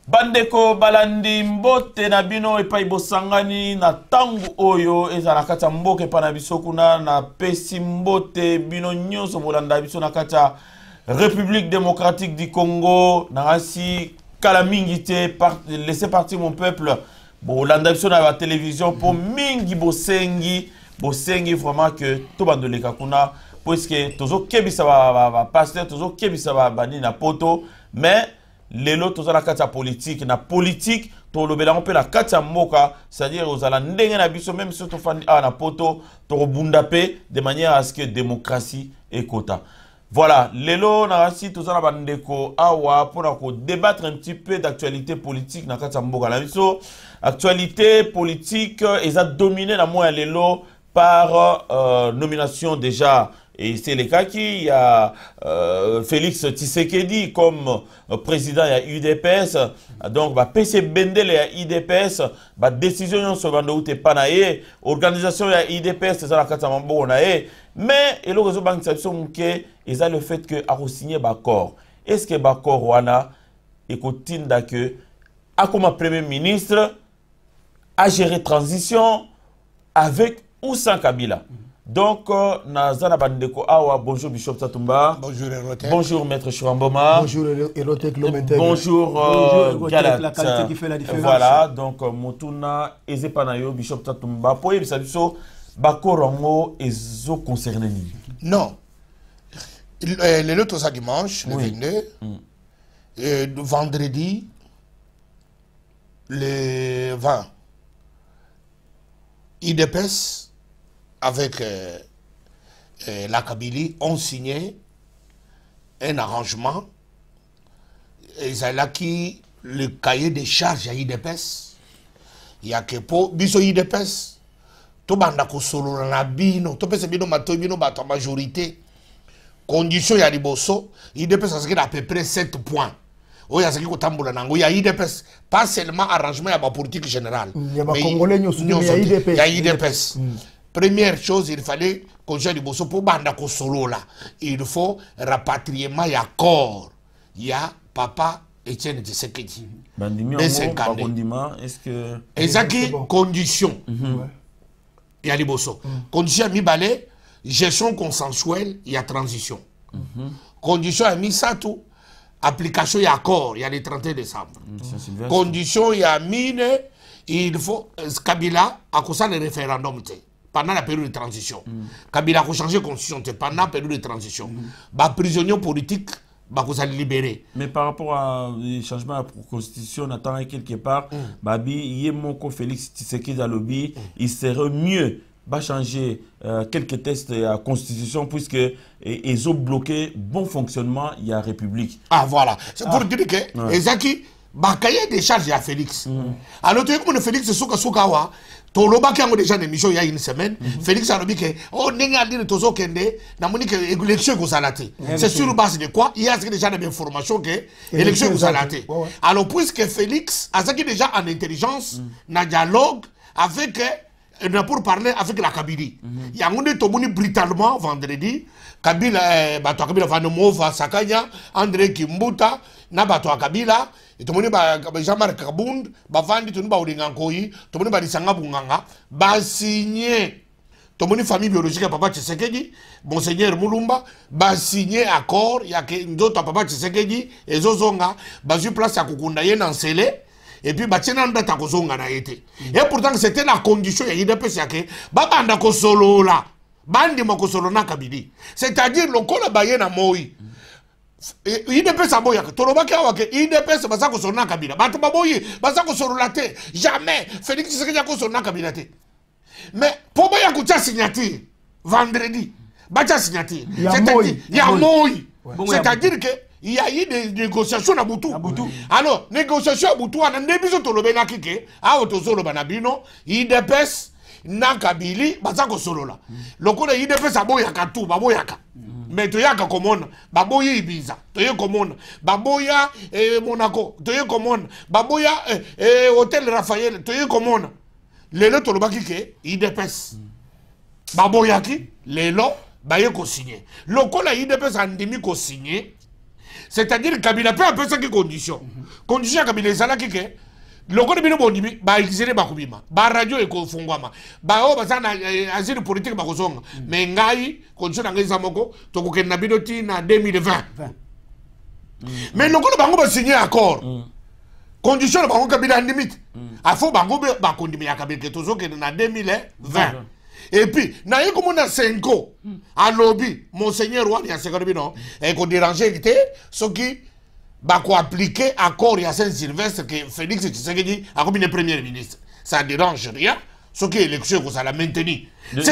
bandeko balandi mbote na bino epai bosangani na ntango oyo ezala na kati ya mboka epai na biso kuna napesi mbote bino nyonso bolanda biso na kati ya république démocratique du congo nangasi kala mingi te laisse partir mon peuple bolanda biso na ba télévision mpo mhm. mingi bosengi bosengi vraiment que tobanda oleka kuna puiske tozokebisa bapasteur tozokebisa babandi na poto mais lelo toza na kati ya politike na politike tolobela yango mpe na kati ya mboka c'est-à-dire ozala ndenge na biso meme soki tofandi awa na poto tokobunda mpe de manière à ce que démocratie ekota Voilà, lelo na rasi toza na bandeko awa mpo na ko débattre un petit peu d'actualité politique na kati ya mboka na biso. Actualité politique eza dominée na moya lelo par euh, nomination déjà et c'est le cas qui a euh, Félix Tshisekedi comme euh, président ya UDPS donc ba PC Bendele ya UDPS ba décision nyonso banda ute pa na ye organisation ya UDPS ezala kati ya maboko na ye mais eloko ezobangisa biso moke eza le fait que akosigne baaccord est ce que baaccord wana ekotinda ke akoma premier ministre agere transition avec ou sans kabila mm -hmm. donc euh, naza na bandeko awa bonjour bishop satumba bonjour, Erotec. bonjour maître churamboma bonjour Erotec, euh, bonjour, euh, bonjour galat voilà donc euh, motuna eza epa na yo bishop satumba mpo oyebisa biso bakoro yango ezo concerne nini non eh, lelo toza dimanche le 22 mm. eh, vendredi le 20 idps avec euh, euh, la kabylie ont signé un arrangement ezalaki le cahier de charge ya idps ya ke mpo biso idps tobanda kosolola na bino topesa bino matoi bino bato ya majorité condition ya liboso idps azalaki na à peu près 7 points oyo azalaki kotambola na yango ya idps pas seulement arrangement ya bapolitique générale ya idps première chose il fallait kozwa liboso mpo banda kosolola il faut rapatriement ya corps ya papa etienne tshisekedi ezaki condition mhm. ya liboso mhm. condition ya mibale gestion consensuelle ya transition mhm. condition ya misato application ya accord ya le 31 décembre mm, condition ya mine il faut euh, kabila akosala référendum te pendant la période de transition mm. kabila akochange constitution te pendant période de transition mm. baprisonnier politique bakozala libéré mais par rapport à euh, changement ya constitution na ntangai quelque part mm. babi ye moko félix tshisekedi alobi mm. il serait mieux ba changer euh, quelques tests ya constitution puisque e, ezo bloquer bon fonctionnement ya république ah voilà c'est pour ah. dire que ouais. ezaki bakaye de charge ya félix mm -hmm. alors toyeki mona félix sukasuka awa tolobaki yango déjà na émission ya une semaine mm -hmm. félix alobi ke o oh, ndenge andini tozokende namoni ke élection ekozala te c'est sur base de quoi ye azalaki déjà na bainformation ke élection ekozala te alors puisque félix azalaki déjà en intelligence mm -hmm. na dialogue avec Eh bien pour parler avec la Kabylie. Mm -hmm. Yango nde tomoni brutalement vendredi Kabila eh, bato ya Kabila Vanomova Sakanya Andre Kimbuta na bato ya Kabila tomoni ba, ba Jean-Marc Kabund bavandi tomoni baolinga nkoyi tomoni balisanga bunganga basigne tomoni famille biologique ya papa Tshisekedi monseigneur Mulumba basigne accord ya nzoto ya papa Tshisekedi ezozonga bazwi place ya kokunda ye na nsele et puis batie nanu date ya kozonga na ye te et pourtant c'était na condition ya udps yake babanda kosolola bandima kosolola na kabili c'est-à-dire lokola baye na moi udps aboyaka tolobaki awa ke udps baza kosolola na kabila bato baboyi baza kosolola te jamais félix tshisekedi akosolola na kabila te mais mpo baya kotya signature vendredi batya signature c'est-à-dire ya moi c'est-à-dire que il y a eu des négociations na butu alors négociation ya butu wana nde biso tolobelaki ke awa tozoloba na bino idps na kabili baza kosolola mm. lokola idps aboyaka tu baboyaka mm. mais toyaka komona baboyi ibiza toye komona baboya eh, monaco toye komona baboya eh, eh, hotel raphael toye komona lelo tolobaki ke idps mm. baboyaki lelo baye kosigne lokola idps andimi kosigne c'est-à-dire kabila mpe apesaki condition mm -hmm. condition ya kabila ezalaki ke lokola bino bondimi baexile bakobima baradio ekofungwama baoyo baza na eh, asile politike bakozonga me mm. ngai condition na ngai eza moko tokokende na bino ti na 2020 me mm. lokola bango basigne accord mm. condition na bango kabila andimi te mm. afo bango mpe bakondimi ya kabila te tozokende na 2020 epuis naye komona senko mm. alobi monseigneur wani asekani bino ekoderange eh, te soki bakoaplike accord ya saint sylvestre ke félix tshisekedi akomi ne premier ministre ça dérange rien soki élection ekozala maintenu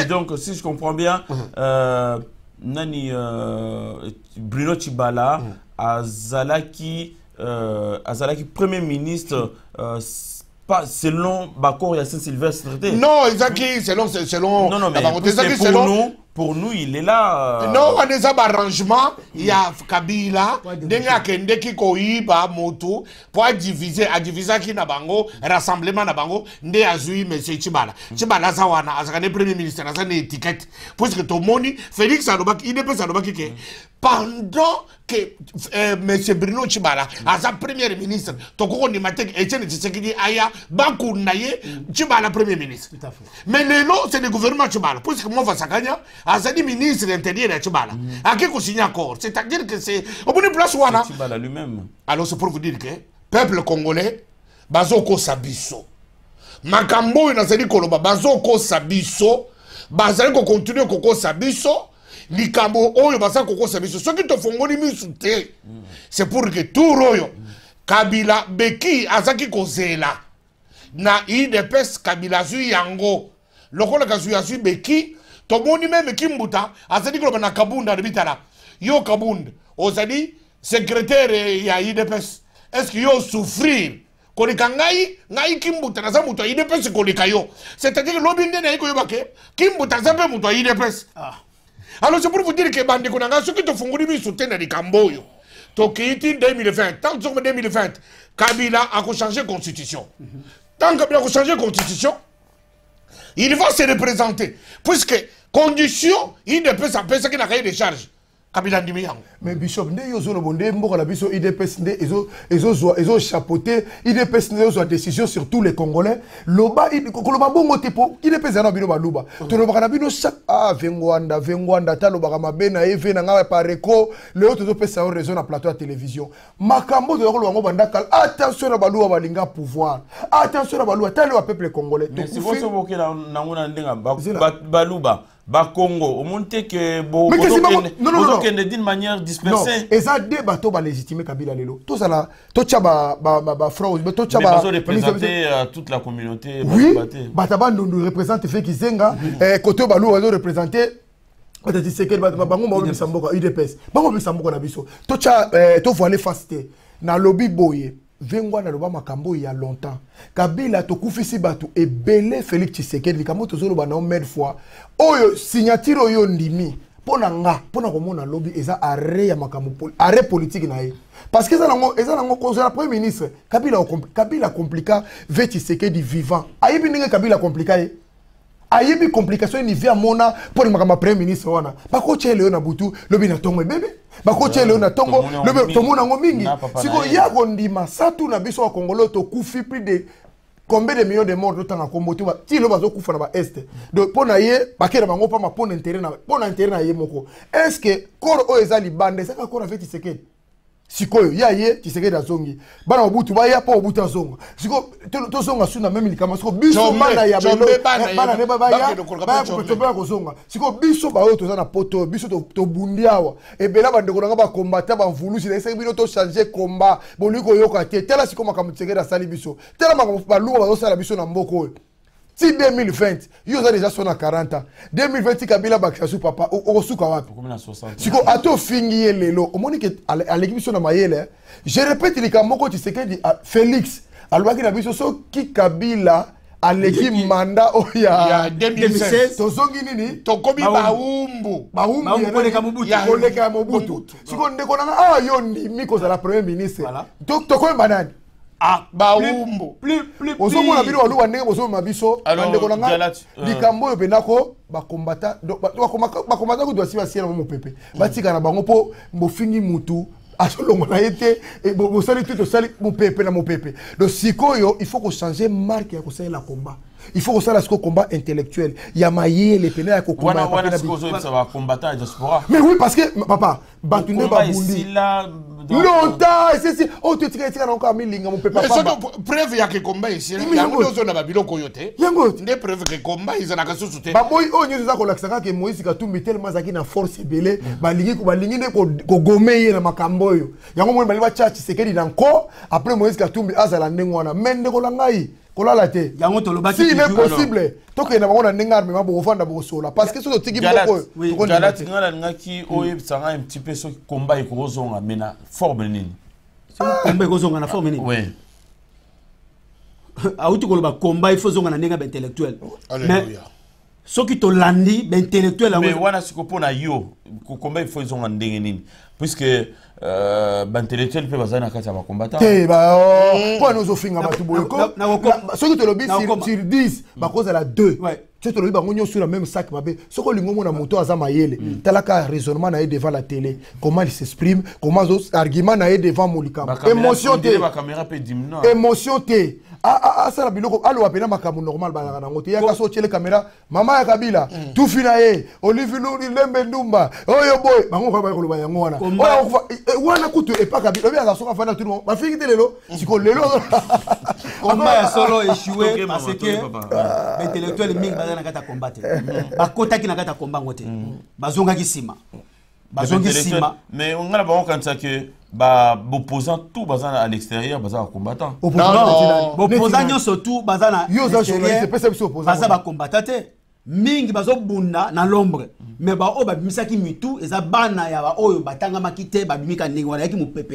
donc si je comprends bien mm. euh, nani euh, bruno chibala mm. azalaki euh, azalaki premier ministre euh, pas selon baccord ya saint sylvestre te non ezaki selon selon non, non, mais bango te ezaki selon nous, pour nous il est là euh... non wana eza barrangement ya kabila ndenge akendeki koyiba motu mpo adivise adivisaki na bango rassemblement na bango nde azwi monsieur chibala chibala aza wana azalaka nde premier ministre aza na étiquette puisque tomoni félix alobaki idps alobaki ke pendant que euh, monsieur bruno tshibala aza premier ministre tokoki kondima te etienne tshisekedi aya bakunda ye tshibala premier ministre mais lelo c'est le gouvernement tshibala puisque mova sakanya azali ministre ya intérieur ya tshibala mm. ake kosigne accord c'est à dire que c'est omoni place wana alors c'est pour vous dire que peuple congolais bazokosa biso makambo oyo nazali koloba bazokosa biso bazali kokontinue kokosa biso likambo oyo baza kokosa biso soki tofongoli misu te c'est pour que tour oyo kabila beki azaki kozela na idps kabila azwi yango lokola kazwi azwi beki tomoni meme kimbuta azali koloba na kabunda alobi tala yo kabunda ozali secrétaire ya idps est ce que yo souffrir koleka ngai ngai kimbuta naza moto ya idps koleka yo c'est-à-dire lobi nde naye koyeba ke kimbuta aza mpe moto ya idps ah. alors c'est pour vous dire ke bandeko na ngai soki tofungoli miso te na likambo oyo tokei ti 2020 tant tozokoma 2020 kabila akochange constitution tant kabila akochange constitution il va se représenter puisque condition idps apesaki na kaye de charge kabila andimi yango mais bishop nde yo ozolobo nde mboka na biso idps nde ezozwa ezochapote idps nde ezozwa décision sur tous les congolais loba koloba bongo te mpo idps eza na bino baluba mm. tolobaka na bino chaque ah vengwanda vengwanda ata alobaka mabe na ye ve na ngai pareco leo tozopesa yo raison na plateau ya télévision makambo toza koloba yango banda kala attention na baluba balinga pouvoir attention na baluba ata leo ya peuple congolais tokufi baluba bakongo omoni te ke bozokende d'une manière dispersée eza de bato balégitime kabila lelo tozala totya bafrausrepresente euh, toute la communauté oui bata bandundu represente fe kizenga eh, kote oyo baluwa ezo represente bata tisekeli bango baolobisa mboka udps bango olobisa mboka na biso totya eh, tovoile face te nalobi boye Vengwa naloba makambo oyo ya longtemps. Kabila tokufisi bato ebele Felix Tshisekedi likambo tozoloba na yo mille fois. Oyo signature oyo ndimi mpo na nga mpo na komona lobi eza arret ya makambo arret politique na ye parce que eza nango eza nango kozala premier ministre kabila kabila compliqua ve tshisekedi vivant ayebi ndenge kabila compliqua ye ayebi complication nivi amona mpo na makambo ya premier ministre wana bakotya eleyo na butu lobi na ntongo ebebe bakotya eleyo na ntongo lobi tomona yango mingi sikoyo ya kondima satu na biso bakongolo tokufi plus de combien de millions de morts totanga kombo te ti lo bazokufa na baeste donc mpo na ye bakela bango mpamba mpo na intere na mpo na intere na ye moko est ce que corps oyo eza libanda ezaka corps afe tisekedi sikoyo ye aye tisekedi azongi bana mobutu baya mpo mobutu azonga sikoyo tozonga su na meme likambo sikoyo biso bana ya bana ne baya kopetompela kozonga sikoyo biso baoyo toza na poto oyo biso tobundi awa ebela bandeko na nga bakombata bamvulusi nayesaki bino tochange komba bolingi koyoka te tala sikoyo makambo tisekedi asali biso tala makambo balunga bazosala biso na mboka oyo ti 2020 yo oza deja so na 40 ans 2020 ti kabila bakisa su papa okosuka wapi siko ata ofingi ye lelo omoni ke aleki biso na mayele eh? je répète likambo moko tisekedi ah, félix alobaki na biso soki kabila aleki manda oyo oh, ya 2016 tozongi nini tokomi baumbu baumbukoleka ya mobutu sikoyo ndeko nanga awa ah, yo ndimi kozala premier ministre tokoyemba nani Ah, bawumbu ozomona bino baluba ndenge bozomema biso bandeko na ngai euh. likambo oyo mpenza ko bakombata bakombata kutu basi basiela mo mopepe batika na bango mpo bofingi mutu azolongola ye te e, bosali te tosali mopepe na mopepe donc sikoyo il faut kochanger marke ya kosalela combat il faut kosala siko combat intellectuel ya mayele mpena ya kokombaamais oui parce que papa bato nde babundi longtemps esesi oyo totika etika nango kaka milinga mopepasoki preuve ya kekomba esilayango nde ozonda babiloko oyo te yango nde preuve kekomba ezalaka susu te baboyi oyo nyonso eza kolakisa kaka moïse katumbi telema azalaki na force ebele balingi balingi nde kogome ye na makambo oyo yango moni balingi batya tshisekedi na nko après moïse katumbi azala ndenge wana me ndeko na ngai kolala te yango tolobaki si est possible tokende na bango na ndenge armema bokofanda bokosola parce que soki otiki moko oyo jalati ngai nalingaki oyebisa ngai un petit peu soki komba ekokozonga me na forme nini komba ekozonga na forme nini auti koloba komba il faut zonga na ndenge ya baintellectuel mais soki tolandi baintellectuel yango wana siko mpo na yo kokomba ifo ezonga ndenge nini puisque euh, baintellectuel mpe bazali na kati ya bakombata te mpo wana ozofinga bato boye soki tolobi sur 10 bakozala 2 soki tolobi bango nyonso na même sac mabe soki olingi omona moto aza mayele mm. talaka raisonnement na ye devant la télé comment il s'exprime comment argument na ye devant molikambo émotion te émotion te asala biloko aloba mpena makambo normal bazalaka nango te yaka so otyele kamera mama ya kabila mm. tufi na ye olivi luli lembe ndumba oyo boye bango kaka baya koloba yango wana eh, eh, wana kutu epa kabila obi azala soki afandi na tuni bafingi te lelo mm. siko lelo komba ya solo echue parce que ah. baintellectuel mingi baza na kati ya komba te mm. bakotaki na kati ya komba yango te bazongaki nsima bazongi sima mais on ngala bango kanisa que ba opposant tout baza à l'extérieur baza ba combattant opposant nyonso tout baza na baza ba combattant te mingi bazobunda na lombre mais baoyo babimisaki mitu eza bana ya baoyo batangamaki te babimika ndenge wana yaki mopepe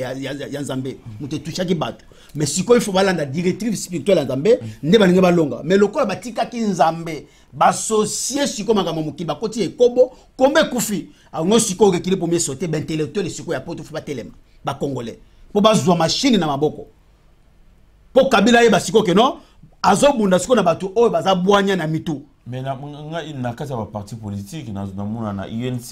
ya nzambe moto etushaki bato mais sikoyo ifo balanda directive spirituel ya nzambe nde balingi balonga mais lokola batikaki nzambe basosie sikoyo makambo ya mokili bakoti ya ekobo kombe ekufi yango sikoyo okekili mpo misote baintellectuele sikoyo ya poto fo batelema bacongolais mpo bazwa mashini na maboko mpo kabila ayeba sikoyo keno azobunda sikoyo na bato oyo baza bwanya na mitu mais na, na, na kati ya baparti politique namona na unc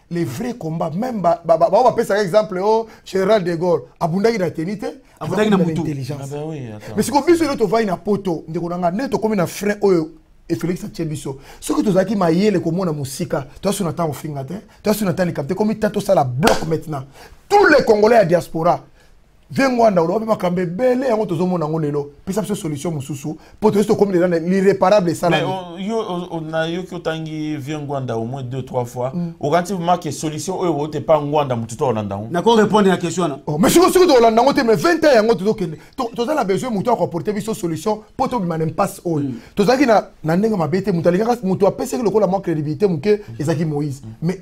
les vrais combats même ba ba ba ba pesa exemple oh général de Gaulle abundaki na teni te abundaki na mutu intelligence ah ben oui attends mais siko biso to vai na poto ndeko na nga ne to komi na frein oyo et Félix atie biso soki tozalaki mayele komona mosika toasu na ntango ofinga te toasu na ntango likambo te komi ta tosala bloc maintenant tous les congolais ya diaspora vie ngwanda oloba mpe makambo ebele yango tozomona yango lelo pesa biso solution mosusu mpo toyesi tokomi lela l'irréparable esalami nayoki otangi vie ngwanda au moins deux trois fois mm. okanisi make solution oyo ote mpa ngwanda motu to olanda yango nako répondre na question wana oh, mais siko soki tokolanda yango te mais 20 ans yango tozokende toza na besoin motu akoporte biso solution mpo tobima na impasse oyo mm. tozalaki na ndenge mabe te motu alingaka motu apesaki lokola mwa crédibilité moke mm. ezalaki moïse mais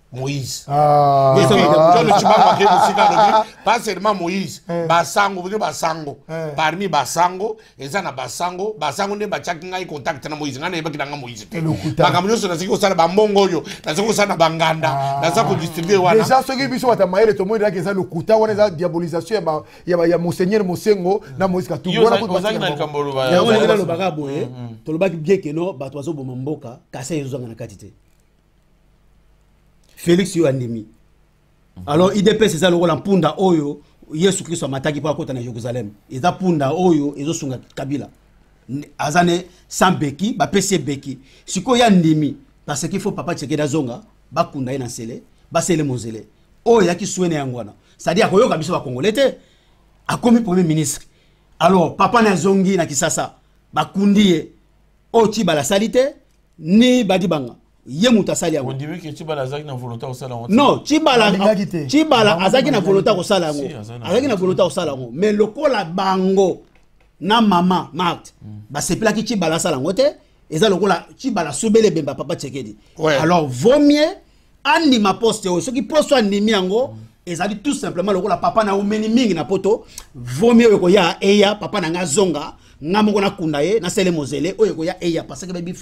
moïse ah. alobi pas seulement moïse eh. basango bino basango eh. parmi basango eza na basango basango nde batiaki ngai contact na moïse ngai nayebaki na ngai moïse te makambo nyonso nazaki kosala bambongo oyo nazaki kosala na banganda ah. naza kodistribue wana deja soki biso bata mayele tomonelaki eza lokuta wana eza diabolisation ya monseigneur mosengo na moïse katuozalaki na likambo olobaka boye mm, mm. tolobaki biekeno bato bazoboma mboka kasi ezozanga na kati te felix yo andimi mhm. alors idps eza lokola mpunda oyo yesu kristo amataki mpo akota na jérusalem eza mpunda oyo ezosunga kabila aza ne sans beki bapesi ye beki sikoyo ya ndimi parce qu'il faut papa tsekedi azonga bakunda ye na nsele basele monzele oyo eyaki swene yango wana cestadire akoyoka biso bakongole te akomi premier ministre alors papa na azongi na kisasa bakundi ye oyo tibala asali te ni badibanga ye moto asali yango non cibala azalaki na volonté akosala yango azalaki na volonté akosala yango mais lokola bango na mama marte mm. basepelaki cibala asala yango te eza lokola cibala sobele ebemba papa tsekedi alors vaut mieux andima poste oyo soki poste andimi yango mm. ezali tout simplement lokola papa na omeni mingi na poto vomi oyo ekoya eya papa na ngai azonga nga moko nakunda ye nasele mozele oyo ekoya eya paseke babi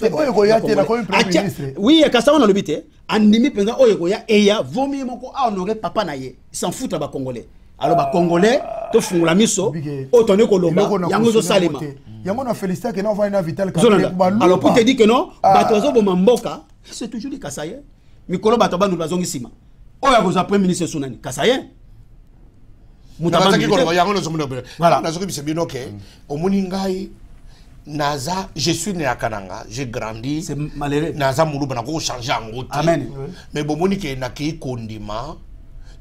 oui kasi yango nalobi te andimi mpenza oyo ekoya eya vomi ye moko ahonore papa na ye sanfuta bacongolais alors bacongolais tofungola miso oyo toni koloba yango ezosalema yango na félicitake na ovani na vital alors pour te dire que non ah. bato bazoboma mboka c'est toujours les kasaïens mikolo bato ya bandundu bazongi nsima oyo akozwa premier ministre esu nani kasaïen nazoki bisa bino ke mm. omoni ngai naza je suis né à kananga j'ai grandi naza muluba nakoki kochange yango te mais bomoni ke nakei kondima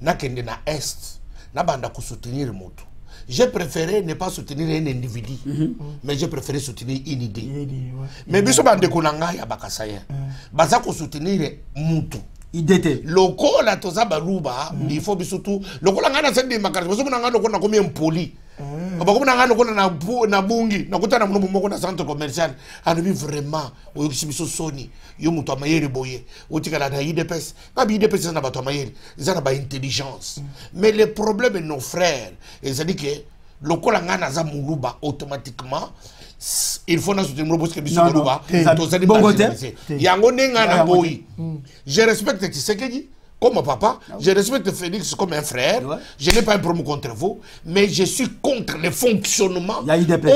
nakende na est nabanda kosoutenir motu j'ai préféré ne pas soutenir un individu mm -hmm. mais j'ai préféré soutenir une idée, une idée ouais. mais biso bandeko na ngai ya bakasayen mm. baza kosoutenir mutu ide te lokola toza baluba mm. il faut biso tu lokola ngai naza ndimaka ozomona ngai lokola nakomi impoli mm. bakomona ngai lokola na bungi nakuta na mono moko na centre commercial alobi vraiment oyokisi biso soni yo moto ya mayele boye otikala na idps nga bi idps eza na bato ya mayele eza na baintelligence mm. mais le problème nos frères ezali ke lokola ngai naza muluba automatiquement il faut nazo tembro parce que biso muluba tozali bongo te yango nde ngai na boyi mm. je respecte tshisekedi comme papa, ah je respecte Félix comme un frère, je n'ai pas un problème contre vous, mais je suis contre le fonctionnement.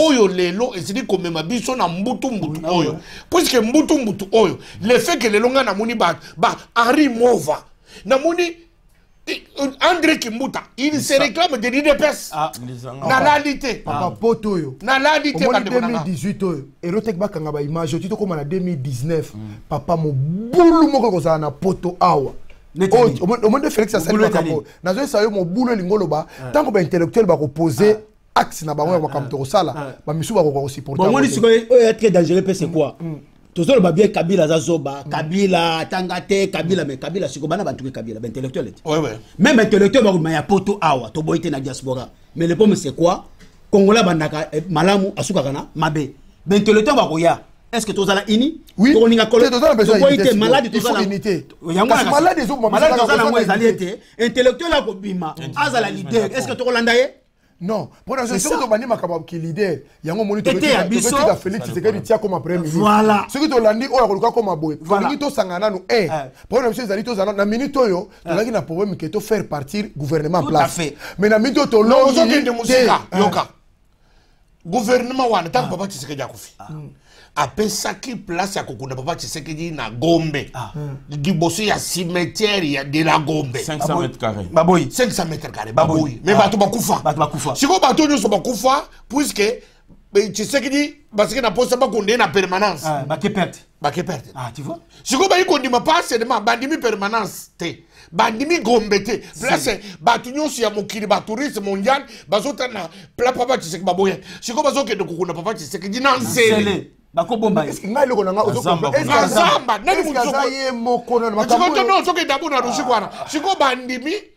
Oyo lelo, et c'est dit comme ma biso na mbutu mbutu ah oyo. Puisque mbutu mbutu oyo, le fait que lelo nga na moni ba, ba, ari mova, na moni André Kimbuta, il se réclame de l'IDPS. Ah, na landi te. Papa ah. poto oyo. Na landi te ba 2018 oyo. Erotek ba kanga ba image oyo toko na 2019. Hmm. Papa mobulu moko kozala na poto awa. Omonde Felix asali makambo. Nazo esayo mobulu elingo loba. Ah. Tango ba intellectuel ba ko poser axe na bango ya ah, makambo ah. tokosala ah. bamisusu bakoka kosupportebamoni sikoyo oyo ya très dangereux mpe c'est quoi mm, mm. tozoloba bien kabila aza zoba mm. kabila atanga te kabila me kabila sikoyo bana batuki kabila baintellectuel ete meme intellectuel bakoma ya poto awa toboyi te na diaspora mais le pomme c'est quoi kongola abandaka eh, malamu asukaka na mabe baintellectuel bakoya est ce que tozala ini tokolinga koloboyi te maladi tozalamaladi ezobima maladi tozala yango ezali ete intellectuel akobima azala leader est ce que tokolanda ye non mpo na soki tobandi makambo ya kilider yango omoni totika félix tshisekedi tia koma premier ministre soki tolandi oyo akoluka koma boye tolingi tosangana nanu e eh. eh. problème na biso ezali tozala na minute oyo eh. tozalaki na problème ke tofaire partir gouvernement place mais na minute oyo tolongi te yoka gouvernement wana ntango ah. papa tshisekedi akufi ah. mm. apesaki place ya kokunda papa tshisekedi na gombe ah. mm. liboso ya cimetière ya de la gombe 500 mètre carré baboyi 500 mètre carré baboyi mais bato bakufa bato bakufa sikoyo bato nyonso bakufa puisque tshisekedi basiki na posa bakunda ye na permanence bake perte bake perte ah, tu vois sikoyo bayi kondima pas seulement bandimi permanence te bandimi gombe te place bato nyonso ya mokili batouriste mondial bazotana pla papa tshiseki baboya sikoyo bazokende kokunda papa tshiseki di na nsele bakobomba ye ngai eloko na ngaazamba nani mozokotono ozokenda mpo na logique wana sikoyo bandimi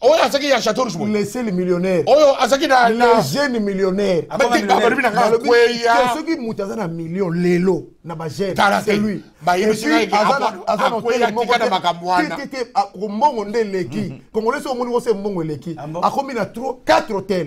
oyo azaki ya chateau rouge boye leseli millionnaire oyo azaki na legene millionnaire balobi na ngai kweya soki moto aza na million lelo na bagene c'est lui mbongo nde eleki congolais soki omoni kose mbongo eleki akomi na trop 4 hôtel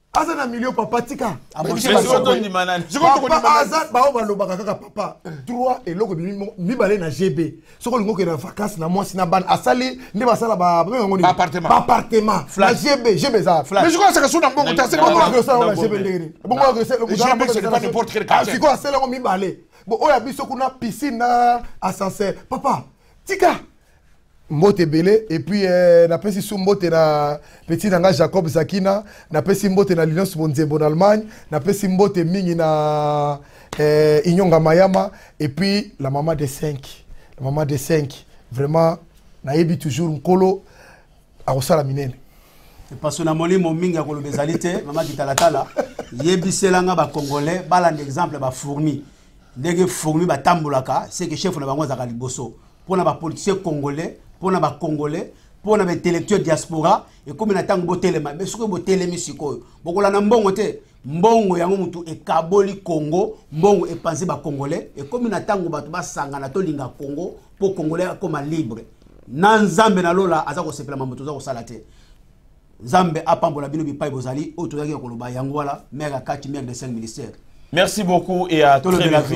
aza na milio papa tika bao balobaka kaka papa trois eloko mibale na gb soki olingi okende na vacance na mwasi na bana asali nde basala baappartement na gb gb ezasikoyo asala yango mibale bo oyo ya biso kuna piscine na ascenseur papa tika mbote ebele epuis eh, napesi su mbote na peti na ngai jacob zakina napesi mbote na lilios bonzembo na allemagne napesi mbote mingi na eh, inyonga mayama epuis la mama de 5 la mama de 5 vraiment nayebi toujours nkolo akosala minene epaso na molimo mingi ya koloba ezali te mama kitalatala yebisela nga bacongolais balanda exemple bafourmi ndenge fourmi batambolaka seke chef na bango azalaka liboso mpo na bapoliticien congolais mpo na bacongolais mpo na baintellectuel diaspora ekomi na ntango botelema be soki botelemi sikoyo bokolanda mbongo te mbongo yango motu ekaboli congo mbongo epanzi bacongolais ekomi na ntango bato basangana tolinga congo mpo congolais akoma libre na nzambe na lola aza kosepela mambo toza kosala te nzambe apambola bino bipai bozali oyo tozalaki ya koloba yango wana mare akati mare de 5 ministère merci beaucoup et à très bientôt